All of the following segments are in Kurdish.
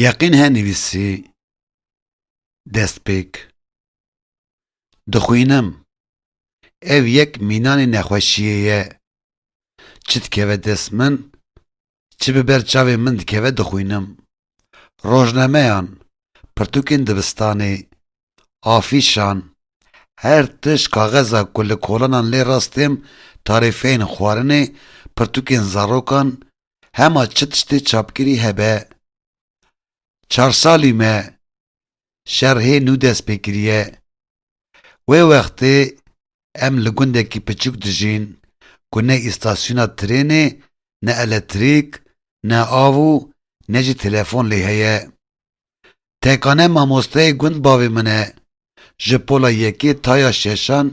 Yeqîn he nivîsî destpêk Dixwînim ev yek mînanê nexweşiyê ye çi dikeve dest min Çi bi ber çavê min dikeve dixwînim. Rojnameyan, pirtûkên dibistanê, afîşan, her tişt kaxeza ku li kolanan lê rastêm tarîfeyên xwarinê, pirtûkên zarokan, hema çi tiştê çapkirî hebe. Çar salî me şer hê nû dest pê kiriye. Wê wextê em li gundekî piçûk dijîn ku ne îstasyona trênê, ne eletrîk, ne av û ne jî telefon lê heye. Tekane mamosteyê gund bavê min e. Ji pola yekê ta ya şeşan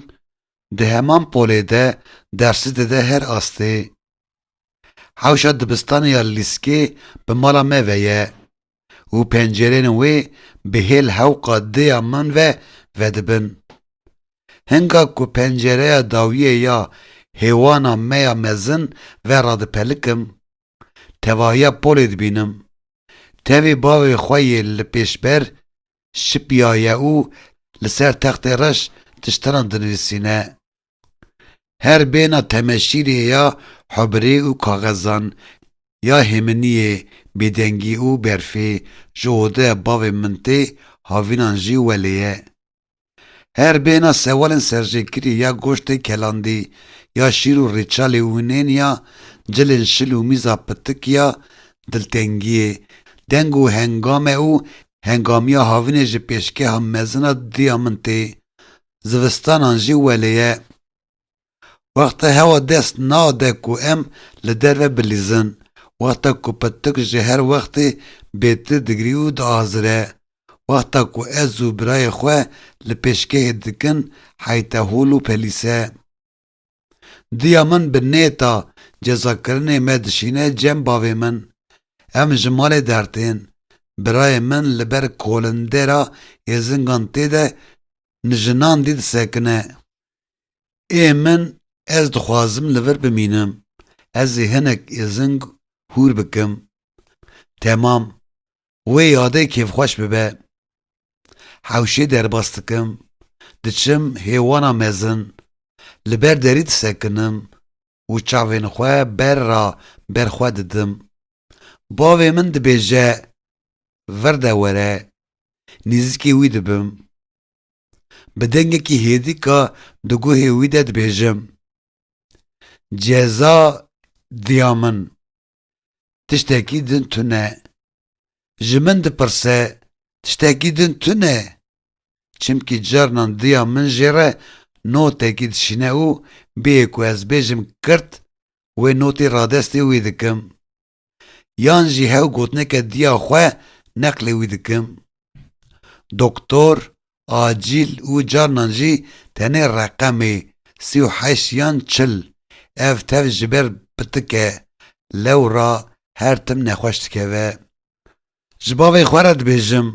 di heman polê de dersi dide her astê. Hewşa dibistanê ya lîskê bi mala me ve ye. û pencerên wê bi hêl hewqa dêya man ve vedibin. Hinga ku pencereya dawiyê ya hêwana me ya mezin ve radipelikim, tevahiya polê dibînim. Tevî bavê xwe yê li pêşber şipiyaye û li ser textê reş tiştenan dinivîsîne. Her bêhna temeşîrê ya hubirê û kaxezan, ya hêminiyê, bêdengî û berfê ji ode bavê min tê, havînan jî welê ye. Her bêhna sewalên serjêkirî ya goştê kelandî, ya şîr û rêçalê wînên ya cilên şil û mîza pitik ya diltengiyê, deng û hengame û hengamiya havînê ji pêşgeha mezin a diya min tê, zivistanan jî welê ye. Wexta hewa dest nade ku em li derve bilîzin, wexta ku pirtik ji her wextê bêtir digrî û diazire, wexta ku ez û birayê xwe li pêşgehê dikin heyte hol û pelîse. Diya min bi nêta cezakirinê me dişîne cem bavê min. Em ji malê dertên birayê min li ber kolindera êzingan tê de mijinan dî disekine. Ê min ez dixwazim li vir bimînim. Ez ê hinek êzing hûr bikim. Temam. Wê yadê kêfxweş bibe. Hewşê derbas dikim, diçim hêwana mezin, li ber derî disekinim û çavên xwe ber ra ber xwe didim. Bavê min dibêje vir de were, nêzîkê wî dibim. Bi dengekî hêdîka di guhê wî de dibêjim, Ceza diya min! tiştekî din tune. Ji min dipirse tiştekî din tune? Çimkî carinan diya min jê re notekî dişîne û bêyê ku ez bêjim kirt wê notî radestê wî dikim. Yan jî hew gotineke diya xwe neqlê wî dikim. Doktor acîl û carinan jî tenê reqemê sî û heşt yan çil ev tev ji ber bitike lewra her tim nexweş dikeve. Ji bavê xwe re dibêjim,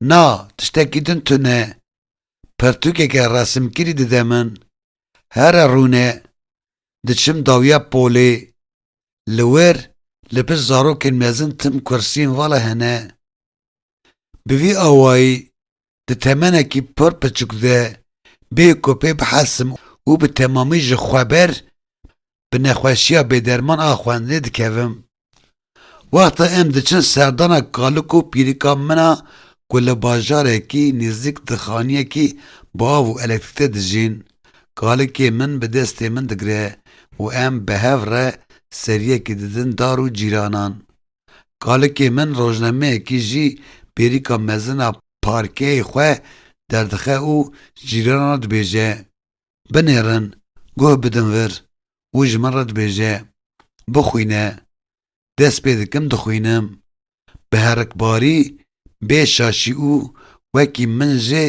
na tiştekî din tune, pirtûkeke resimkirî dide min, here rûne diçim dawiya polê, li wir li pişt zarokên mezin tim kursiyên vala hene, Bi vî awayî di temenekî pir piçûk de bê ku pê bihesim û bi temamî ji xwe ber bi nexweşiya bêderman a xwendinê dikevim. Wexta em diçin serdana kalik û pîrika min a ku li bajarekî nêzîk di xaniyekî bi av û elektrîk de dijîn, kalikê min bi destê min digire û em bi hev re seriyekî didin dar û cîranan. Kalikê min rojnameyekî jî pêrîka mezin a parkeyê xwe derdixe û cîranan re dibêje, Binêrin, guh bidin vir û ji min re dibêje, Bixwîne. Dest pê dikim dixwînim. Bi herikbarî, bê şaşî û wekî min jê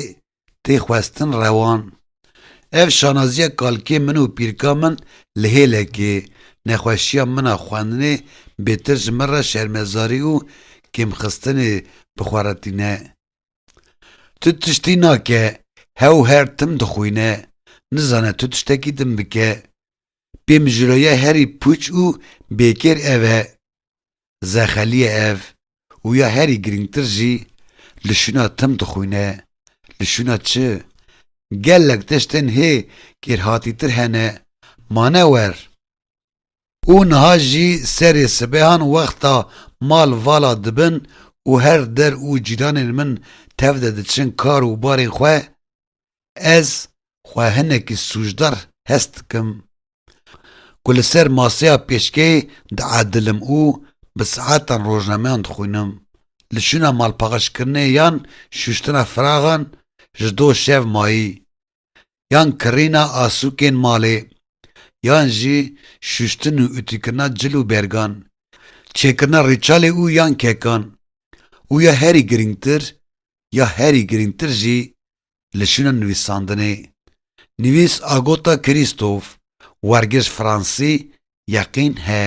tê xwestin rewan. Ev şanaziya kalkê min û pîrka min li hêlekê, nexweşiya min a xwendinê bêtir ji min re şermezarî û kêmxistinê bi xwe re tîne. Tu tiştî nake, hew her tim dixwîne, nizane tu tiştekî din bike. Pê mijûloya herî pûç û bêkêr ev e. zexeliye ev û ya herî girîngtir jî li şûna tim dixwîne, li şûna çi? Gelek tiştên hê kêrhatîtir hene, mane wer. Û niha jî serê sibehan wexta mal vala dibin û her der û cîranên min tev de diçin kar û barên xwe, Ez xwe hinekî sûcdar hest dikim ku li ser maseya pêşkeyê diedilim û bi saetan rojnameyan dixwînim. Li şûna malpaxişkirinê yan şûştina firaxan ji do şev mayî, yan kirîna asûkên malê, yan jî şûştin û utîkirina cil û bergan, çêkirina rîçalê û yan kekan û ya herî girîngtir ya herî girîngtir jî li şûna nivîsandinê. Nivîs Agota Krîstof, wergir ji Fransî, yeqîn he.